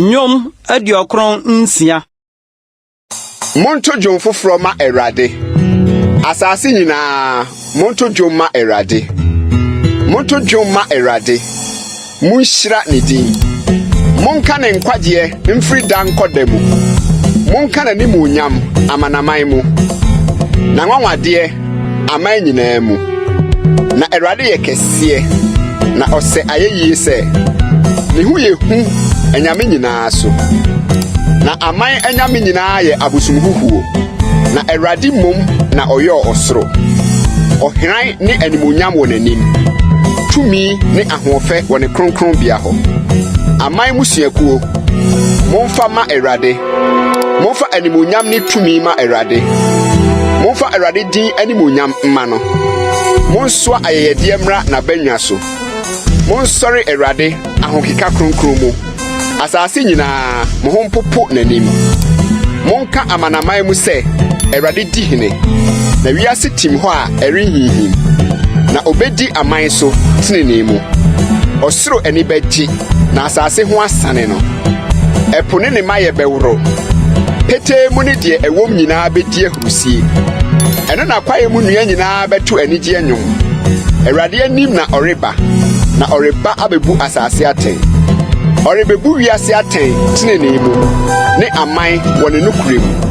Nnwom aduɔkron nsia. Monto dwom foforɔ ma Awurade. Asase nyinaa, monto dwom ma Awurade. Monto dwom ma Awurade. Monhyira ne din. Monka ne nkwagyeɛ mfiri da nkɔ da mu. Monka n'animuonyam amanaman mu, n'anwanwadeɛ aman nyinaa mu. Na Awurade yɛ kɛseɛ, na ɔsɛ ayɛyie sɛ, ne ho yɛ hu anyame nyinaa so. Na aman anyame nyinaa yɛ abosomhuhuo, na Awurade mmom na ɔyɔɔ ɔsoro. Ɔhran ne animuonyam wɔ n'anim, tumi ne Hoɔfɛ wɔ ne kronkronbea hɔ. Aman mmusuakuo, momfa ma Awurade. Momfa animuonyam ne tumi ma Awurade. Momfa Awurade din animuonyam mma no. Monsoa ayɛyɛdeɛ mmra n'abannwa so. Monsɔre Awurade ahokeka kronkron mu. Asase nyinaa, mo ho mpopo n'anim. Monka amanaman mu sɛ, “ Awurade di hene.” Na wiase tim hɔ a ɛrenhinhim. Na obedi aman so trenee mu. Ɔsoro ani bɛgye, na asase ho asane no. Ɛpo ne ne mayɛ bɛworo. Petee mu ne deɛ ɛwom nyinaa bedi wusie. Ɛno na kwaeɛ mu nnua nyinaa bɛto anigyeɛ nnwom. Awurade anim na ɔreba, na ɔreba abɛbu asase atɛn. Ɔrebɛbu wiase atɛn tenenee mu ne aman wɔ ne nokorɛ mu.